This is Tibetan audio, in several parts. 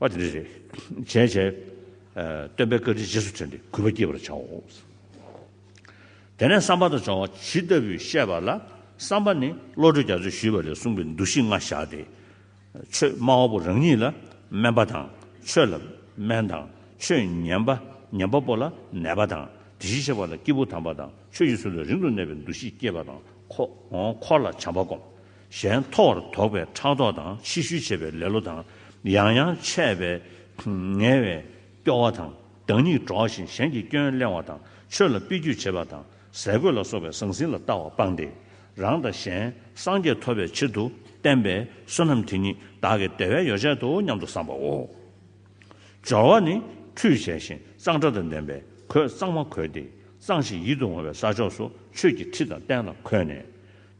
པ་དེ་རེ་རེ་བྱས་བྱས། སྟོན་པའི་བཀའ་དྲིན་རྗེས་སུ་དྲན་ཏེ་གུས་པ་བསྐྱེད་པར་བྱའོ། དེ་ནས་བསམ་པ་དང་སྦྱོང་བ་ཇི་ལྟ་བུས་བཤད་པ་ལ་བསམ་པ་ནི་བློ་གྲོས་རྒྱ་མཚོས་ཞུས་པ་ལས་གསུངས་པའི་འདུ་ཤེས་ལྔ་བཞག་སྟེ། ཆོས་སྨྲ་བ་པོ་རང་ཉིད་ལ་སྨན་པ་དང་ཆོས་ལ་སྨན་དང་ཆོས་ཉན་པ་ཉན་པ་པོ་ལ་ནད་པ་དང་དེ་བཞིན་གཤེགས་པ་ལ་སྐྱེས་བུ་དམ་པ་དང་ཆོས་ཀྱི་ཚུལ་ལ་རིང་དུ་གནས་པའི་འདུ་ཤེས་བསྐྱེད་པ་དང་འཁོར་ལ་བྱམས་པ་བསྒོམ། གཞན་མཐོ་བར་དོགས་པའི་ཕྲག་དོག་དང་ཕྱི་ཤུལ་བྱེད་པའི་ལེ་ལོ་དང་ཡང་ཡང་ཆད་པས་ངལ་བའི་སྐྱོ་བ་དང་བདག་ཉིད་གྲོགས་བཞིན་གཞན་གྱི་སྐྱོན་གླེང་བ་དང་ཆོས་ལ་དཔེ་བརྒྱུད་བྱེད་པ་དང་ཟས་གོས་ལ་སོགས་པའི་ཟང་ཟིང་ལ་ལྟ་བ་སྤངས་ཏེ། རང་དང་གཞན་སངས་རྒྱས་ཐོབ་པའི་ཕྱིར་དུ་བསྟན་པའི་བསོད་ནམས་དེ་ཉིད་བདག་གི་བདེ་བའི་ཡོ་བྱད་དོ་སྙམ་དུ་བསམ་པའོ། སྦྱོར་བ་ནི་ཁྲུས་བྱས་ཤིང་གཙང་སྦྲ་དང་ལྡན་པས་གོས་གཙང་མ་གོས་ཏེ་གཙང་ཞིང་ཡིད་དུ་འོང་བའི་ས་ཕྱོགས་སུ་ཆོས་ཀྱི་ཁྲི་དང་སྟན་ལ་འཁོད་ནས།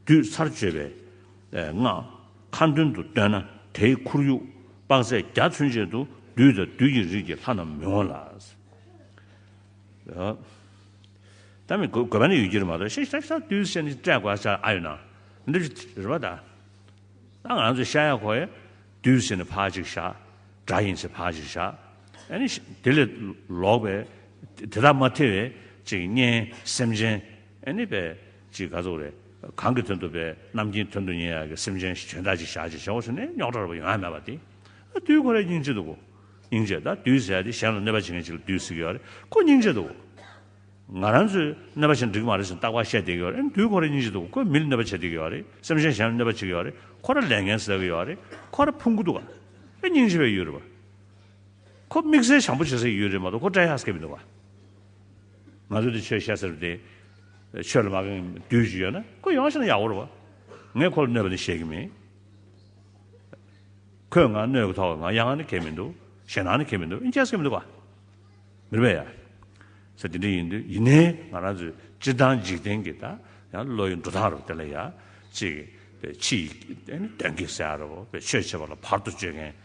བསྡུས་ཚར་བརྗོད་པའི་སྔགས་ཁ་མདུན་དུ་བཏོན་ན་དེའི་ཁོར་ཡུག་དཔག་ཚད་བརྒྱ་མཚོན་བྱེད་དུ་བདུད་དང་བདུད་ཀྱི་རིགས་ཀྱི་ལྷ་རྣམས་མི་འོང་ལ། ད་མི་དགོས་པ་ནི་ཡོད་ཀྱི་རེད་མ་གཏོགས་ཤ་ཤ་ཤ་བདུད་བསད་ནི་སྤྲད་དགོས་ས་ཨ་ཡོད་ན་འདི་རེད་པ་ད། ད་ང་ཚོས་ཤ་ཡ་ཁོ་ཡ་བདུད་བསད་ནི་ཕག་ཅིག་བཞག་དགྲ་ཡིན་ཚེ་ཕག་ཅིག་བཞག་ཨ་ནི་དེ་ལས་ལོག་པའི་དེ་དག་མ་ཐེ་བའི་ཅིག་གཉེན་སེམས་ཅན་ཨ་ནི་པའི། ཅིག་ག་ཚོགས་རེད། གང་གི་དོན་དུ་བས་རྣམ་ཀྱིན་དོན་དུ་ཉེ་ཡ་གི་སེམས་ཅན་ཞིག་བྱོན་ད་ཅིག་བཞག་ཅིག་བྱའོ་ཟེར་ནས་རྙོག་དྲ་རུ་བ་ཡོང་ཡ་མེད་པ་དེ། དུས་ཁོ་རེ་སྙིང་རྗེ་འདུག་གོ། སྙིང་རྗེ་ད་དུས་ཟེར་ཡ་དེ་གཞན་ལ་གནོད་པ་བྱེད་མཁན་ཅིག་ལ་དུས་ཟེར་གི་ཡོད་རེད་ཁོ་སྙིང་རྗེ་འདུག་གོ། ང་རང་ཚོས་གནོད་པ་བྱེད་འགྲིག་གི་མ་རེད་ཟེར་ནས་རྟག་པར་བཤད་བསྡད་ཀྱི་ཡོད་རེད་དུས་ཁོ་རེ་སྙིང་རྗེ་འདུག་གོ་ཁོས་མི་ལ་གནོད་པ་བྱེད་བསྡད་ཀྱི་ཡོད་རེད་སེམས་ཅན་གཞན་ལ་གནོད་པ་བྱེད་ཀྱི་ཡོད་རེད་ཁོ་ར་ལས་འགན་ཟེར་གི་ཡོད་རེད་ཁོ་ར་ཕུང་པོ་འདུག་ག་རེ་སྙིང་རྗེ་བའི་ཡུལ་རེད་བ། ཁོ་དམིགས་བསལ་བྱམས་པོ་བྱེད་སའི་ཡུལ་རེད་མ་གཏོགས་ཁོ་བཀྲ་ཤག་སྐད་མི་འདུག་ག། ང་ཚོ་འདི་ཆོས་བཤད་ས་རེད་དེ། ཆོས་ལ་མ་དགའ་མཁན་དུས་ཅིག་ཡོད་ན་ཁོ་ཡོང་ཤེས་ན་ཡག་པོ་རེད་བ། ངས་ཁོ་ལ་གནོད་པ་ནི་བྱེད་ཀྱི་མིན། ཁོས་ང་གནོད་ཀྱི་ཐོག་ང་ཡ་ང་ནི་གལ་མི་འདུག་ཞེ་སྣང་ནི་གལ་མི་འདུག་ཨིན་ཅེས་ཀྱི་མི་འདུག་བ། མི་རེ་བས་ཡ། ས་དེ་འདྲ་ཡིན་དུས་ཡིན་ནའི་ང་རང་ཚོའི་སྤྱིར་བཏང་འཇིག་རྟེན་གྱི་ད་ཡང་བློ་ཡི་འགྲོ་སྟངས་རེད་བ་དེ་ལ་ཡ། ཅིག། ཕྱི་ཡི། དོན་གྱི་ས་ཡ་རེད་བ། ཆོས་བྱེད་པ་ལ་བར་དུ་གཅོད་མཁན།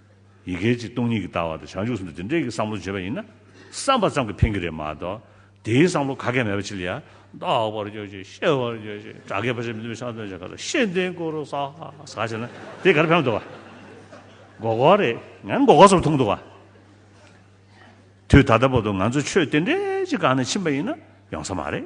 ཡི་གེ་གཅིག་སྟོང་ཉིད་ཀྱི་ལྟ་བ་དང་བྱང་ཆུབ་སེམས་དཔའ་འདི་འདྲེས་ཀྱི་བསམ་བློ་བརྗོད་པ་ཡིན་ན་བསམ་པ་ཙམ་གྱིས་ཕན་གྱི་རེད་མ་གཏོགས་དེའི་བསམ་བློ་ག་གེ་མེད་པ་ཕྱིར་ཡང་རྟོགས་པར་བརྗོད་ཅིག་ཤེས་པར་བརྗོད་ཅིག་སྒྲ་སྐད་ཕ་ཤ་མི་མཐུན་པའི་ཤ་འདོན་བྱེད་ག་ལ་ཤེས་ལྡན་སྐུ་རུ་ཟག་ཟག་བྱེད་ན་དེ་ག་རེ་ཕན་འདོགས་པ། མགོ་སྐོར་རེད་ཡང་མགོ་སྐོར་ཙམ་ཐུག་འདོགས་པ། དུས་ད་ལྟ་བར་དུ་ང་ཚོ་ཆོས་དེ་འདྲས་ཅིག་བཀག་ནས་ཕྱིན་པ་ཡིན་ན་ཡོང་ས་མ་རེད།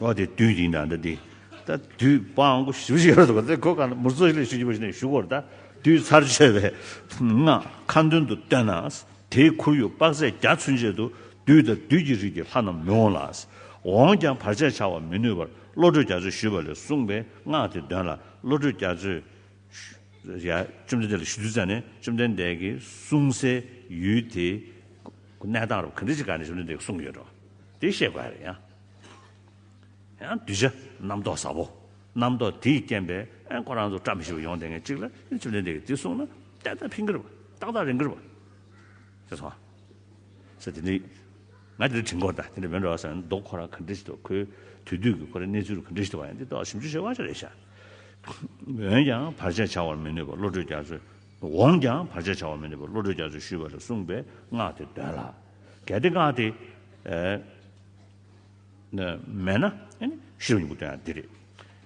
བ་དེ་དུས་ཡིན་ན་འདི་ད་དུས་དཔང་གོ་ཞུ་བཞིན་ཡོད་དེ་གོ་གང་མུར་རྩོད་ལས་ཞུ་བཞིན་པ་ཞིག་ནས་ཞུ་གོ་ད་དུས་ཚར་གཅོད་པའི་སྔགས་ཁ་མདུན་དུ་བཏོན་ན་དེའི་ཁོར་ཡུག་དཔག་ཚད་བརྒྱ་ཚུན་ཆད་དུ་དུས་ད་དུས་ཀྱི་རིགས་ཀྱི་ལྷ་རྣམས་མི་འོང་ལ། འོངས་ཀྱང་བར་ཆད་བྱ་བར་མི་ནུས་པར་བློ་གྲོས་རྒྱ་མཚོས་ཞུས་པ་ལས་གསུངས་པའི་སྔགས་དེ་འདོན་ལ་བློ་གྲོས་རྒྱ་མཚོས། བཅོམ་ལྡན་འདས་ལ་ཞུ་དུས་བཙལ་ནས་བཅོམ་ལྡན་འདས་ཀྱིས་གསུངས་སའི་ཡུལ་དེའི། གནས་སྟངས་རུ་ག་འགྲིག་ཅི་ག་ནས་བྱུང་ནི་འདི་གསུངས་ཡོད་འགྲོ། དེ་ཤེས་དགོས་ཡ་རེད་ཡང། ཡང་གདུལ་བྱ་རྣམ་རྟོག་ཟབ་བོ། རྣམ་རྟོག་དེའི་རྐྱེན་པས་ཨེ་ཁོ་རང་ཚོ་བཀྲ་མི་ཤིས་པ་ཡོང་དེ་ངས་གཅིག་ལ་ཡང་བྱུང་ནི་འདི་གི་འདི་གསུངས་ན་ཏན་ཏན་ཕིང་གིར་བ་ཏག་ཏག་རིང་གིར་བ། ཅེས་སོང། ས་དེ་འདྲི། ང་དེ་འདྲ་དྲིས་འགོར་ད་དེ་འདྲ་མིན་འགྲོ་ས་ཡོང་མདོག་ཁོ་རང་ག་འདྲི་ཤི་ཐུབ་ཁོའི་དུས་དུས་ཀྱི་ཁོ་རའི་གནས་ཚུལ་རུ་ག་འདྲི་ཤི་ཐུབ་བ་ཡང་འདི་ཏོག་ཞིབ་འཇུག་བྱེད་དབང་ཆ་རེད་ཤག། འོན་ཀྱང་བར་ཆད་བྱ་བར་མི་ནུས་པ་བློ་གྲོས་རྒྱ་མཚོས་འོངས་ཀྱང་བར་ཆད་བྱ་བ་མི་ནུས་པར་བློ་གྲོས་རྒྱ་མཚོས་ཞུས་པ་ལ་གསུངས་པའི་སྔགས་དེ་འདོན་ལ། གལ་ཏེ་སྔགས་དེ། མེད་ན། ཤེས་རབ་གཉིས་པོ་སྟོན་ཡང་འདི་རེ།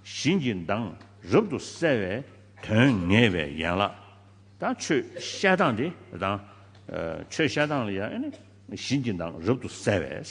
བཞིན་གྱི་མདངས་རབ་ཏུ་གསལ་བའི་དོན་ངེས་པའི་ཡན་ལག་དང་ཆོས་བཤད་སྟངས་དེ་དང། ཆོས་བཤད་སྟངས་ལ་ཡང། བཞིན་གྱི་མདངས་རབ་ཏུ་གསལ་བས།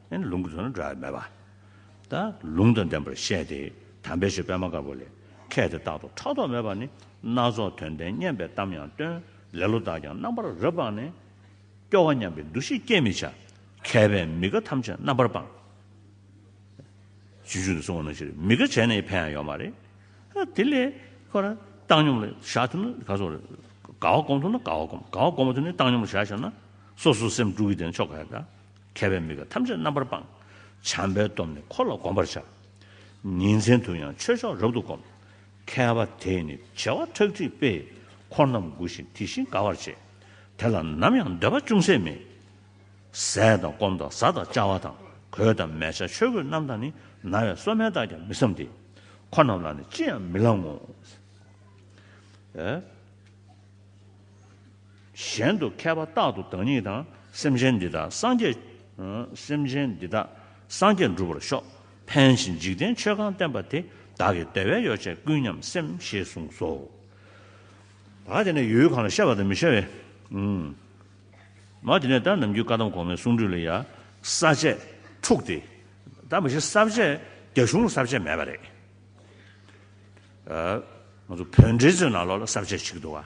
ཨེ་ལུང་གི་དོན་ནི་འདྲ་བས་མེད་པ། ད་ལུང་དང་ལྡན་པར་བཤད་དེ། དམ་པའི་ཆོས་པད་མ་དཀར་པོ་ལས། མཁས་དེ་རྟག་ཏུ་ཕྲག་དོག་མེད་པར་ནི། སྣ་ཚོགས་དོན་ལྡན་སྙན་པའི་གཏམ་ཡང་སྟོན། ལེ་ལོ་དག་ཀྱང་རྣམ་པར་རབ་སྤངས་ནས། སྐྱོ་བ་སྙམ་པའི་འདུ་ཤེས་སྐྱེད་མི་བྱ། མཁས་པས་མི་དགའ་ཐམས་ཅད་རྣམ་པར་སྤངས། བྱིས་འབྱུང་དུ་སོང་བ་ནང་བཞིན་རེད་མི་དགའ་བྱས་ན་ཡི་ཕན་ཡང་ཡོད་མ་རེད། དེ་ལས། ཁོ་ན་བཏང་སྙོམས་ལ་བཞག་ཐུབ་ན་ག་སོགས་རེད། དགའ་བ་སྒོམ་ཐུབ་ན་དགའ་བ་སྒོམ། དགའ་བ་སྒོམ་མ་ཐུབ་ནི་བཏང་སྙོམས་ལ་བཞག་ཤོར་ན། སོ་སོའི་སེམས་དཀྲུགས་ཀྱི་དེ་ནི་ཆོ་ག་རེད། མཁས་པས་མི་ག་ཐམས་ཅད་རྣམ་པར་སྤང། བྱམས་པའི་སྟོབས་ནི་འཁོར་ལ་བསྒོམ་པར་བྱ། ཉིན་མཚན་དུ་ཡང་ཆོས་མཆོག་རབ་ཏུ་བསྒོམ། མཁས་པ་དེས་ནི་བྱེ་བ་ཁྲག་ཁྲིག་སྤེལ། འཁོར་རྣམས་མགུ་ཞིང་དེ་བཞིན་དགའ་བར་བྱེད། དེ་ལ་ནམ་ཡང་འདོད་པ་ཅུང་ཟད་མེད། ཟས་དང་སྐོམ་དང་བཟའ་དང་བཅའ་བ་དང། གོས་དང་མལ་ཆ་ཆོས་གོས་རྣམས་དང་ནི། ན་བའི་སོ་སྨན་དག་ཀྱང་མི་བསམ་སྟེ། འཁོར་རྣམས་ལ་ནི་ཅི་ཡང་མི་བླང་ངོ། གཞན་དུ་མཁས་པ་རྟག་ཏུ་བདག་ཉིད་དང་སེམས་ཅན་འདི་དག་སངས་རྒྱས། སེམས་ཅན་འདི་དག་སངས་རྒྱས་འགྲུབ་པར་ཤོག། ཕན་ཞིང་འཇིག་རྟེན་ཆོས་གང་བསྟན་པ་དེ་བདག་གི་བདེ་བའི་ཡོ་བྱད་ཀུན་ཉམས་སེམས་ཞེས་གསུངས་སོ། ད་དེ་ནས་ཡུལ་གང་ལ་ཤར་བ་དང་མི་ཤར་བའི། མ་དེ་ནས་ད་ནམ་རྒྱུད་བཀའ་གདམས་གོང་མའི་གསུང་སྒྲོས་ལ་ཡང་ས་བཅད་དྲུག་སྟེ། ད་མ་གཞི་ས་བཅད་རྒྱ་གཞུང་ལ་ས་བཅད་མེད་པ་རེད། ང་ཚོ་བོད་འགྲེལ་མཛོད་ནང་ལོགས་ལ་ས་བཅད་གཅིག་འདུག་ཨ།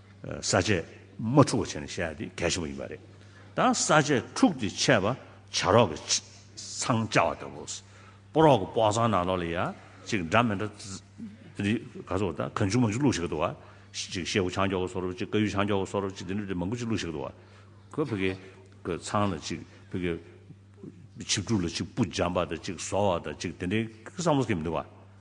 ས་བཅད་མ་འཁྲུགས་པ་བྱས་ནས་བཤད་དེ་གལ་ཆེན་པོ་ཡིན་པ་རེད། ད་ས་བཅད་འཁྲུགས་ཏེ་འཆད་པ་བྱ་རོག་གི་ཚང་བཅའ་བ་ལྟ་བུ། སྤོ་རོག་གི་སྤོག་ཚང་ནང་ལོགས་ལ་ཡ་གཅིག་འདྲ་མི་འདྲ། འདི་ག་ཚོགས་ད་གང་བྱུང་མང་བྱུང་བླུགས་ཤིག་འདུག་བ། གཅིག་ཤེ་བོ་ཆང་འགྱོག་གི་སོ་རུབ་གཅིག་ཀ་ཡུ་ཆང་འགྱོག་གི་སོ་རུབ་གཅིག་འདི་འདྲ་འདྲ་མང་པོ་གཅིག་བླུགས་ཤིག་འདུག་བ། ཁོས་བོད་སྐད་གི་ཚང་ལ་གཅིག་བོད་སྐད་ཆིབས་བསྒྲུགས་ལ་གཅིག་སྤུ་འཇམ་པ་དང་གཅིག་ཟོ་བ་དང་གཅིག་དེ་འདྲའི་བསམ་བློ་སྐྱེ་མི་འདུག་བ།